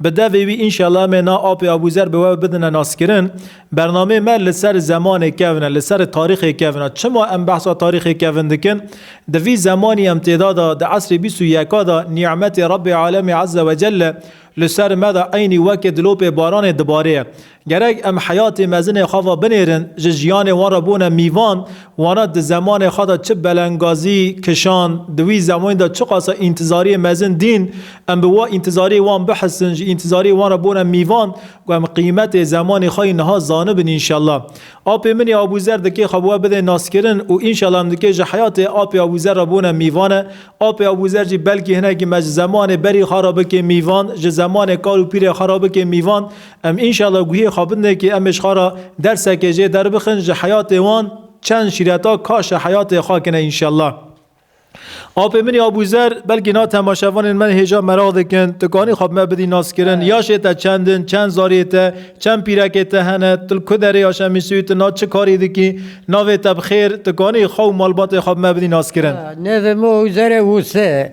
Bi devê wî înşela em ê na apê Abûzer bi we bidine naskirin. Bernameyê me li ser zemanê kevn e, li ser tarîxê kevn e. Çima em behsa tarîxê kevn dikin? Di vî zemanî em têda de, di esrê bîst û yeka de nî'metê Rebbê Alemê Ezze Wecelle li ser me de eynî weke dilopê baranê dibarê ye. Gerek em heyatê mezinê xwe ve binêrin, ji jiyanê wan re bûne mîvan, wana di zemanê xwe de çi belengazî kişand, di wî zemanî de çiqasa întizariyê mezin dîn, em bi wa întizariyê wan bihisin, ji întizariyê wan re bûne mîvan ku em qîmetê zemanê xwe yî niha zanibin înşella. Apê min yê Abûzer dikê xwe bi we bidê naskirin û înşella em dikê ji heyatê apê Abûzer re bûne mîvan e, apê Abûzer jî belkî hinekî me ji zemanê berî xwe re bikê mîvan, ji zemanê kal û pîrê xwe re bikê mîvan, Em înşela guhê xwe bidne kê em ê ji xwe re derseke jê derbixin, ji heyatê wan çend şîreta kaşe heyatê xwe kine înşela. Apê min ê Abûzer, belkî na temaşevanên me hêja meraq dikin, tikanî xwe bi me bidî naskirin, yaşê te çend in, çend zarê te, çend pîrekê te hene, tu li ku derê ya Şemîsûyî tu na çi karî dikî, navê te bi xêr, tikanî xwe û malbatê xwe bi me bidî naskirin. Nêzî min Ozerê Wûsê,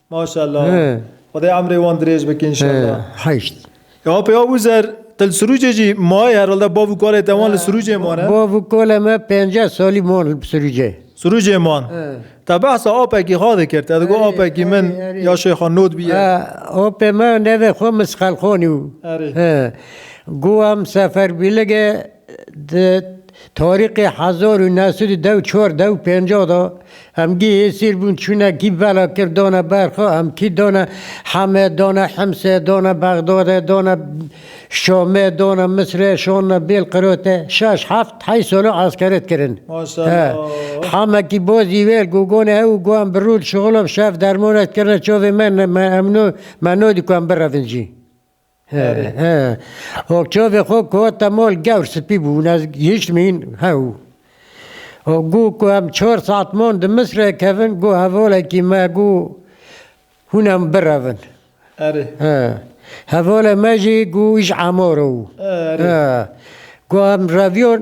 Maşallah. Xwedê emrê wan dirêj bike înşallah. Heşt. Ya pê Abuzer te li Sirûcê jî mayî herhalde bav û kalê te wan li Sirûcê mane? Bav û kalê me penceh salî man li Sirûcê. Sirûcê man. Te behsa apekî xwe dikir te digot apekî min ya Şêxa Nodbî ye. Apê me navê xwe Misxelxanî bû. Erê. Go em Seferbîlig e. Di tarîxê hezar û new sed û deh û çar deh û pencah de Hemgî hêsîr bûn çûne kî bela kir dane ber xwe em kî dane Heme dane Himse dane Bexdade dane Şame dane Misre şanine Bêlqirate şeş heft heyş sala eskeret kirin Heme kî bazî wêr gogane hew û got em bi rû li şixula bi şev dermanek dikirine çavê me me em no me nadî ku em birevin jî. O çavê xwe ku hate mal gewr spî bû ne hîç mîn hew. O gû ku em çar saet man di Misrê kevin gû hevalekî me gû hûn em birevin. Erê. Hevalê me jî gû îş emar o. Erê. Gû em reviyon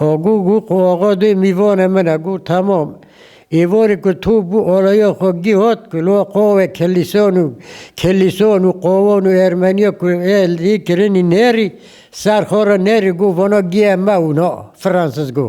Agû gû qo axa dê mîvane min e, gû temam. Êvarê ku to bû alaya xwe gihat ku la qawê kelîsan û kelîsan û qawan û ermeniya ku ê lê kirinî nerî, ser xwe re nerî, gû vana giya me û na, Francis gû.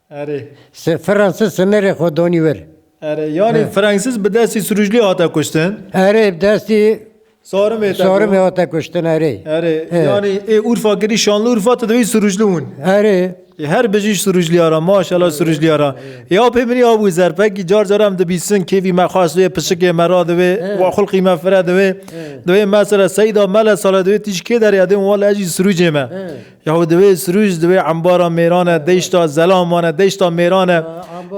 Erê. Se Fransız sınırê xo donî wir. Erê, yanî Fransız bi destî Sirûclî hate kuştin? Erê, bi destî Sarimê te Sarimê bû? hate kuştin erê. Erê, Ê. yanî ê Urfa kirî Şanlıurfa tu dibî Sirûclî hûn. Erê, Ê her bijî Sirûclîya ra, maşallah Sirûclîya ra. Ê aw pê min ê abû zerpekî car car em dibîsin kêfî me xweş divê, pişikê me ra divê, wa xulqî me fire divê. Divê mesela Seyda Mele sale divê tîj kê derê edê û wale ez jî Sirûcê me. Yaho divê sirûj divê embara mêran e, deyşta zelam mane, deyşta mêran e.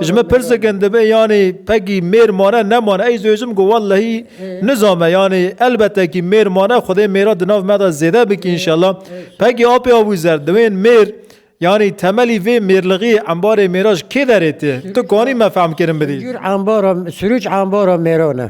Ji min pirsikin divê yanî pegî mêr mane nemane. Ey dibêjim ku wellehî nizame yanî elbete kî mêr mane xwedê mêra di nav me de zêde bike înşellah. Pegî apê Abûzer divên mêr yanî temelî vê mêrlixiyê embarê mêra ji kê derê tê? Tu kanî me fehmkirin bidî? Sirûj embara mêran e.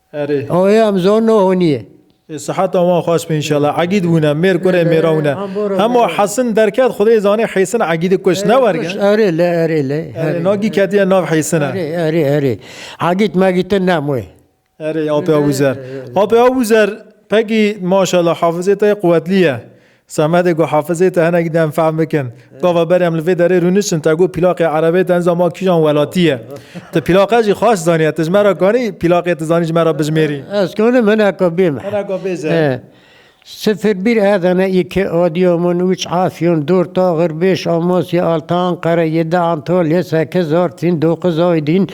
Erê. Oê em zor no honiye. Ê siheta wan xweş be înşela. Egîd bûne, mêr kurê mêra wine. Hema Hesin derket xwedê zanê Hêsin Egîdi kuş. Ne werge? Erê le erê le. Erê nagî ketiye nav Hêsine. Erê erê erê. Egîd megîdin ne moê. Erê apê Abûzer. Apê Abûzer pegî maşela hafizê te yê quwetlî ye. Semedê ku Hafizê te hinek dem fehm bikin. Gava berê em li vê derê rûnişin te got pîlaqê Erebê te niza ma kîjan welatî ye. Ti pîlaqe jî xweş zaniye. Ti ji me re kanî pîlaqê ti zanî ji me re bijimêrî. Ez kanim hineka bîm. Hineka bêje. Sifir bir Adana iki Adıyaman üç Afyon dört Ağır beş Amasya altı Ankara yedi Antalya sekiz Artvin dokuz Aydin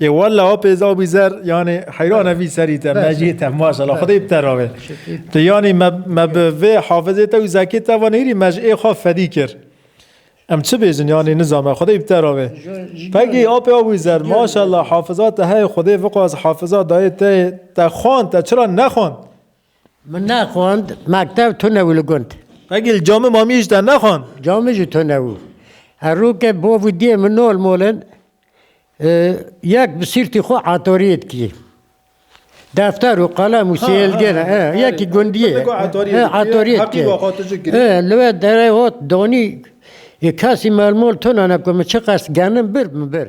E valla o pêza bî zer yanê heyrana vî serî te mecî te maşallah xwedê bi te ravê. Tu yanî me bi vê hafizê te û zekê te van hêrî me ji ê xwe fedî kir. Em çi bêjin yanî nizame xwedê bi te ravê. Pegî apê wî zer maşallah hafiza te heye xwedê viqas hafiza dayê te te xwand te çira nexwand. Min nexwand mektev tune û li gund. Qegî li camê mamiyê jî te nexwand? Camê jî tune û. Herû ke bav û diyê min nol mol in, yek bi sîrtî xwe etoriyê dikî. Defter û qelem û sêlgir yekî gundiyê etoriyê dikî. Li we derê hot danî, kesî mol mol tune ne ku min çiqas genim bir min bir.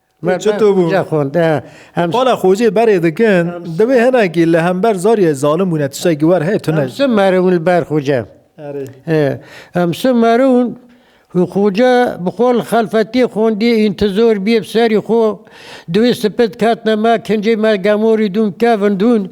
Çito bû? Qala xocê berê dikin, divê hinekî li hember zariyê zalim bûne tiştekî wer heye tune. Em çi merivin li ber xoce? Em çi merivin? Xoce bi xwe li xelfetiyê xwendiye întizor bîye bi serî xwe. Divê sipit ketine me kincê me gemorî dûn kevin dûn.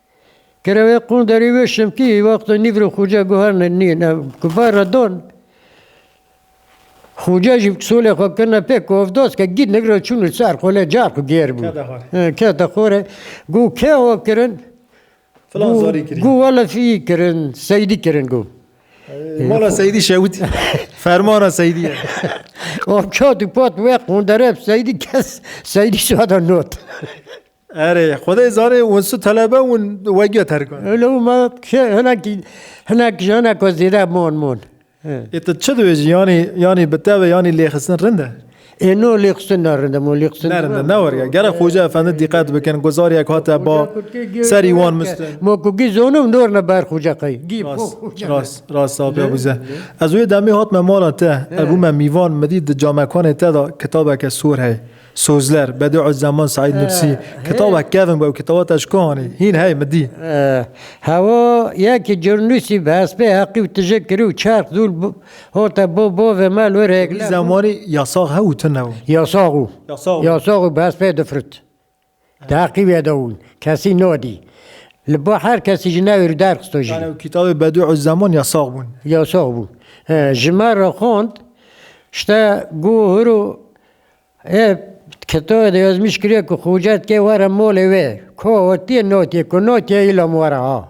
Kerewê qunderî wê şimtî wexto nîv re xuce guhernin nîn ev ku ba re don. Xuce jî solê xwe kirine pê ku ev doz ke gît nigre çûn û ser xwe lê carî ku gêr bû. Kete xwe re. Gu kê we kirin? Filan zarî kirî. Gu wele fî kirin, seydî kirin gu. Mala seydî şewitî. Fermana seydî ye. Wan çat û pat wê qundere seydî kes seydî sada not. Erê, xwedê zanê wan su telebe wan wegiya terkan. Elo ma kê hinek hinek ji hinek we zêde mon mon. Ê tu çi dibêjî yanî yanî bi te ve yanî lêxistin rind e? Ê no lêxistin ne rind e mo lêxistin. Ne rind e ne weriya. Gere Xoca Efendi dîqet bikin ku zariyek hate ba serî wan miste. Mo ku gî zonim dor ne ber Xoca qey. Gî Rast rast sağ ol pê Abûzer. Ez wê demê hatme mala te. Ev bûme mîvan min dît di camekanê te de kitabeke sor heye. Sozler, Bediüzzeman Seîd Nursî, Kitaba kevn bu, ew kitaba te ji ku anî? Hîn hey min dî. Hewa yekî curnusî bi hespê heqî û tije kirî û çerx dûl hote bo bo ve mel wir hêglev. Wî zemanî yasax hew û tune bû? Yasax û. Yasax û. Yasax û bi hespê difirt. Teqîbê de û kesî nadî. Li ba her kesî ji navê rû derxisto jî. Yani kitabê Bedû û Zeman yasax bûn. Yasax bûn. Ji me re xwend işte gu hur û ê kitabê de yazmîş kiriye ku Xoca dike were malê wê. Ka hatîye natîye ku natîye îlam were ha.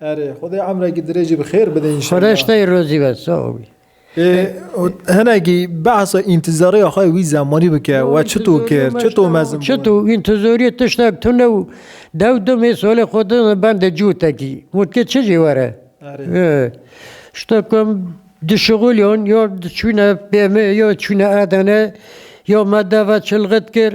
Erê Xwedê emrekî dirêjî bi xêr bide înşellah. Fereşteyê rozî be sağ ol. Ê hinekî behsa întîzariya xwe wî zemanî bike we çito kir, çito mezin bû. Çito întîzoriyê tiştek tune û dew du mêsolê xwe din bendê cûtekî. Mutkê çi jî were. Şta ku em di şixulyan ya çûne BM ya çûne Edene ya me deve çilxit kir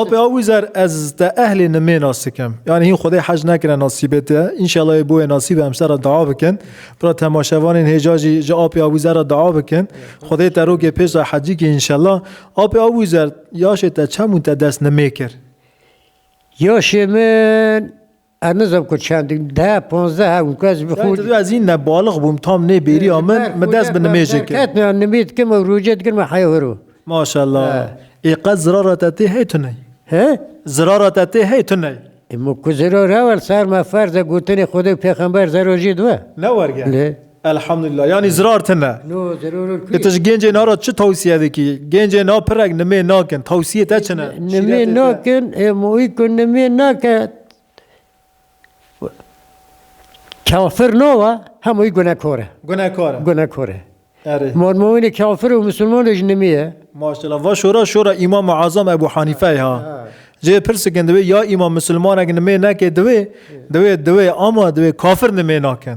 Apê a wî zer ez te ehlê nimê nas dikim. Yanî hîn xwedê hej nekire nasîbê te. Înşela yê boyê nasîbê em ser re dua bikin. Pira temaşevanên hêja jî ji apê a wî zer re dua bikin. Xwedê te rokê pêş re hecî kî înşela. Apê a wî zer yaşê te çem û te dest nimê kir? Yaşê min Ez nizam ku çend de panzdeh ew ku ez bi xwe. Çend ez î ne balix bûm tam nê bêriya min min dest bi nimêjê kir. Ketne an nimê dikim ew rojê dikim me heya hiro. Maşallah. Ê qet zirara te tê hey tu ney. He? Zirara te tê hey tu ney. Ê min ku zirar hewl ser me ferz e gotinê Xwedê û pêxember zerajî dibe. Ne werge. Lê. Elhamdulillah yanî zirar tine. E tu ji gencên ara çi tewsiye dikî? Gencên a pirek nimê nakin. Tewsiyê te çi ne? Nimê nakin ê moî ku nimê nake kafir nawa hemûî gunekar e. Gunekar e. Gunekar e. Erê. Marmoînê kafir û misilmanê ji nimê ye. Maşela va şora şora Îmam Azam Ebû Hanîfeyê ha. Cihê pirsikin divê ya îmam misilmanek nimê neke divê divê ama divê kafir nimê nakin.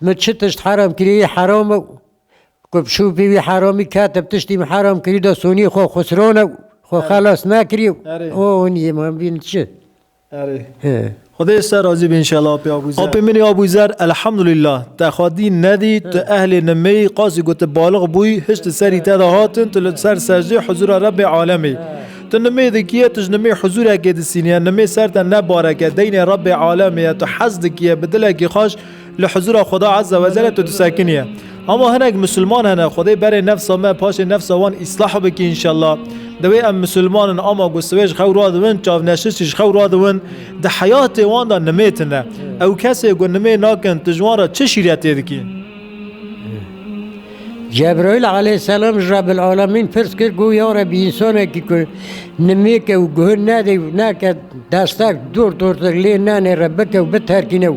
Min çi tişt heram kirîyî heram e û ku bi şûfî wî heramî kete bi tiştî min heram kirî de sonî xwe xusirone û xwe xelas nekirî û o onî ma bîn çi. Erê. Xwedê ser razî be înşellah Apê Abûzer. Apê min ê Abûzer Elhamdulillah te xwe dî nedî tu ehlê nimeyî qasî ku tu balix bûyî hişt di serî te de hatin tu li ser sejdeyê huzûra Rebbê Alemê tu nimê dikiye tu ji nimê huzûrekê disîniye nimê ser te ne bareke deynê Rebbê Alemê ye tu hez dikiye bi dilekî xweş Li huzûra Xweda Ezze we Celle tu disekiniye. Hema hinek Musulman hene, Xwedê berê nefsa me, paşê nefsa wan îslah bike înşellah. Dewê em Musulman in ama ku siwê ji xew radibin, çavneşirçî ji xew radibin, di heyatê wan de nimê tune. Ew kesê ku nimê nakin tu ji wan re çi şîretê dikî? Cebraîl aleyhisselam ji Rabilelamîn pirs kir ku ya Rebî însanekî ku nimêke û guh nede û neke destek dor dortir lê nenê re bike û biterkîne û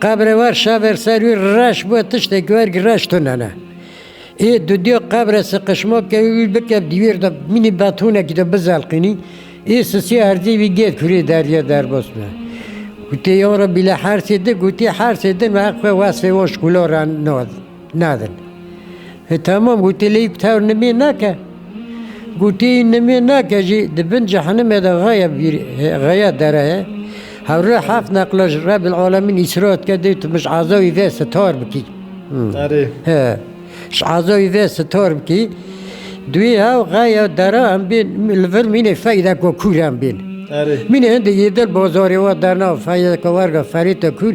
Qebrê wer şaver ser wî reş bûye tiştê ki wer reş tune ne. Ê dudiya qebre siqişma bike û wî bike dîwêr de mînî betonekî de bizelqînî. Ê sisiya herzî vî gêr kurê derya derbas bûye. Gotê yan re bîle hersê di gotê hersê din ve heq xwe wesfê wan şkûla re nade. Nadin. E tamam gotê lê bi tevr nimê nake. Gotê nimê nake jî di bin cehenime de xeya vîr xeya dere ye. Hewre heft neqla ji Rebil Alemîn îsra dike dê tu min ji ezawî ve sitar bikî. Erê. He. Ji ezawî ve sitar bikî. Duê hev xeya dere em bên li vir mînê feyda ku kûr em bên. Erê. Mînê hindê yê dil bozarê wa derna feyda ku werga ferê te kûr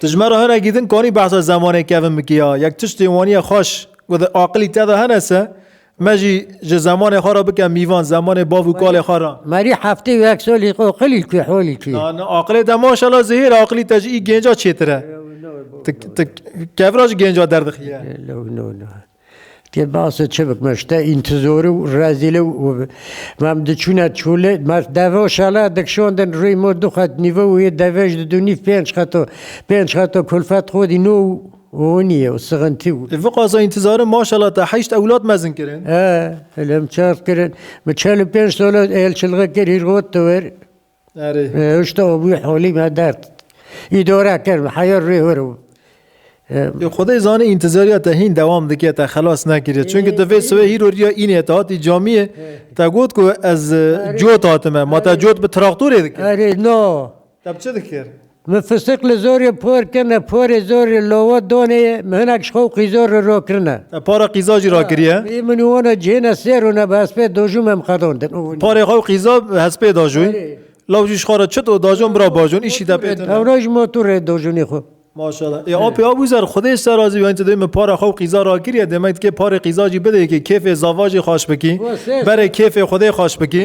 Tu ji me re hinekî din kanî behsa zemanê kevin bikî ya, yek tiştê waniye xweş ku di aqilî te de hene se, me jî ji zemanê xwe re bike mîvan, zemanê bav û kalê xwe re. Merî heftê û yek solî qoqilî kî holî kî. Na, na, aqilê te maşallah zêhîr e, aqilî te ji î gênca çêtir e. Tu, tu kevra ji gênca derdixî ye. No, no, no. Tê basê çi bikme ji te întizorî û rezîlî û mam di çûne çolê ma deve û şala dikşandin rûyê ma du qet nîve û yê deve ji di du nîv pênc qeto pênc qeto kulfet xwedî no û honîye û sixintî û. Li vî qaza întizarim maşala te heşt ewlad mezin kirin? He, li min çar kirin. Min çel û pênc sal e êlçilixê kir hîrxwe tewir. Hişto bû holî me dert. Îdore kir heya rê wir û. Xwedê zanî întizariya te hîn dewam dike te xelas nekiriye. Çimkî tu vê siwê hîro riya înê te hatî camiyê te got ku ez cot hatime. Ma te cot bi traktorê dikir. Erê no. Te bi çi dikir? Mi fisik li zorê por kirine, porê zor li lowe donê ye, mi hinek ji xwe û qîzor li ro kirine. Ev para qîza jî rakiriye. Î min û wan a cihêna sê rûne bi hespê dojû me em xedan din. Parê xwe û qîza bi hespê dajû. Law jî ji xwe re çit û dajon bira bajon îşî de pê tune. Hewra ji motorê dojûnê xwe. Maşallah. Ê apê abû zer xwedê ji te razî be hin tu dibî min para xwe û qîza rakiriye dê me dikê parê qîza jî bidê yekê kêfê zavajê xweş bikî. Berê kêfê xwedê xweş bikî.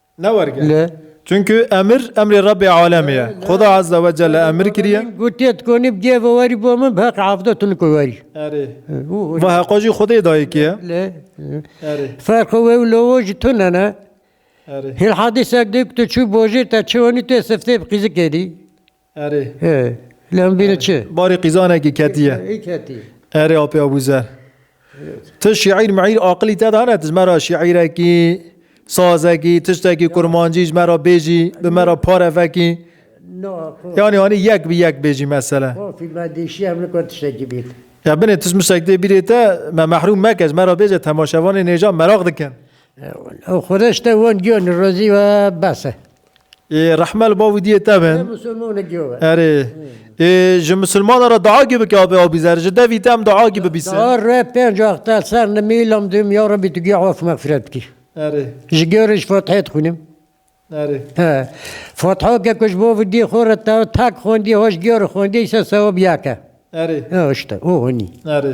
Ne werge. Çunku emir emrê Rebê alemê ye. Xuda azze ve celle emir kiriye. Gotiye tu konî bi cêve werî bo min bi heq avde tu niko werî. Erê. Va heqo jî Xudê dayê kî ye. Erê. Ferqê wê û lowo jî tune ne. Erê. Hîn hadîsek de ku tu çû bojê te çi wenî tu yê siftê bi qîzikê dî. Erê. He. Lê em bîne çi? Barê qîzanekî ketiye. Hî ketî. Erê Apê Abûzer. Ti şîîr miîr aqilî te de hene ti ji me re şîîrekî, sazekî, tiştekî kurmancî ji me re bêjî, bi me re pare vekî. No, xo. Yanî anî yek bi yek bêjî mesele. Xofî me dişî em nikwe tiştekî bît. Ya binê ti ji min şek dê bîrê te me mehrûm meke ji me re bêje temaşevanê nêja meraq dikin. Xwedeş te wan giyanî rozî we bes e. Ê rehme li ba wîdiyê te bin. Te musulmane giyo be. Erê. Ê ji musulmana re dua gî bike abê abî zer. Ji devî te em dua gî bibîse. Dua re pênc wexte ser nimî lam dûm ya Rebî tu giya af mexfiret bikî. Erê. Ji gêrê ji Fatihê dixwînim. Erê. He. Fatiha ke ku ji bo wîdiyê xwe re te tek xwendiye ho ji gêrê xwendiye îse sewab yek e. Erê. He işte o hûnî. Erê.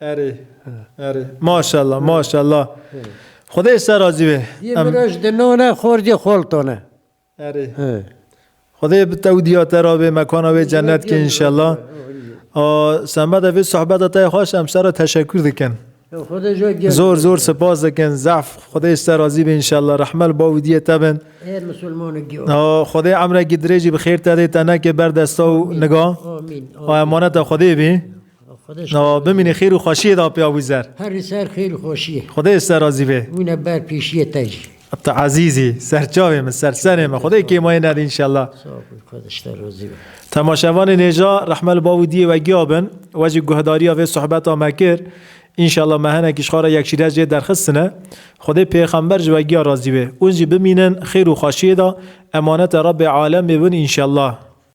Erê, erê. Maşallah, maşallah. Xwedê ji te razî be. Yê min re ji dinan e, xor jê xoltan e. Erê. Xwedê bi te û diya te re be, mekana wê cennet ke înşallah. Semeda vê sohbeta te xweş em sere teşekkür dikin. Zor zor spas dikin. Zehf Xwedê ji te razî be înşallah. Rehme li bav û diyê te bin. Xwedê emrekî dirêjî bi xêr te dê te neke ber desta û niga. Emaneta Xwedê bî. Nawa bimîne xêr û xweşiyê da piya wî zer. Herî ser xêr û xweşiyê. Xwedê ser razî bê. Wîne ber pêşiyê te jî. Ata Ezîzî, serçavê min, sersenê min. Xwedê kêmayê nede înşellah. Sağ ol, xwedeş te razî be. Temaşevanên hêja rehme li bav û diyê we giya bin. We jî guhedariya vê sohbeta me kir. Înşellah me hinekî ji xwara yekşîrê jê derxistine. Xwedê pêxember ji we giya razî bê. Hûn jî bimînin xêr û xweşiyê da. Emanete Rebê Alemê bin înşellah.